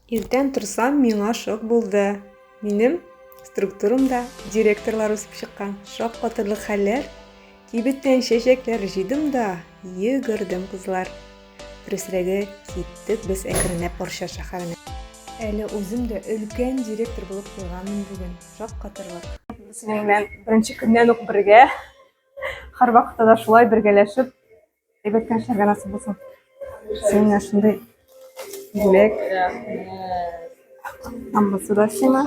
Иртән торсам, миңа шок булды. Минем структурамда директорлар үсеп чыккан. Шок катырлык хәлләр. Кибеттән чәчәкләр җыйдым да, йөгердем, кызлар. Дөресрәге, киттек без әкренләп Орча шәһәренә. Әле үзем дә өлкән директор булып куйганмын бүген. Шок катырлык. Синең белән беренче көннән үк бергә, һәрвакытта да шулай бергәләшеп, Әйбәткә эшләргә насып булсын. Сиңа шундый бүләк. Амбасы да сиңа.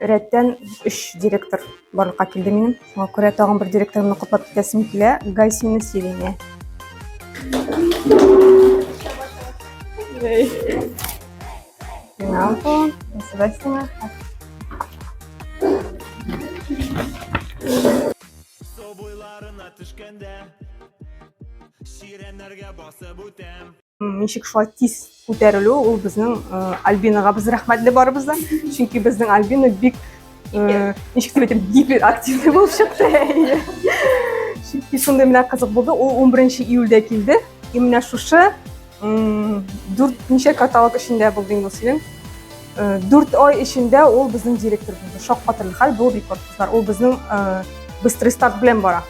Рәттән өч директор барлыкка килде минем. Шуңа күрә тагын бер директорымны котлап китәсем килә. Гайсинны сөйләмә. Сиңа бу, сиңа. Су буйларына төшкәндә Чирәмнәргә басып үтәм ничек шулай тиз күтәрелү ул безнең э, альбинаға без рәхмәтле барыбыз да чөнки безнең альбина бик э, ничек дип әйтәм гиперактивный булып чыкты чөнки шундый менә кызык булды ул 11 июльдә килде и менә шушы Дүрт ничә каталог эчендә булды инде фильм. Дүрт ай эчендә ул безнең директор булды. Шаккатырлык хәл бу рекорд кызлар. Ул безнең быстрый старт белән бара.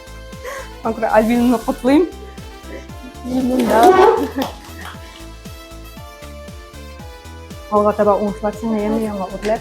Анкра Альбинаны котлыйм. Алга таба уңышлар сиңа яңа яңа үрләр.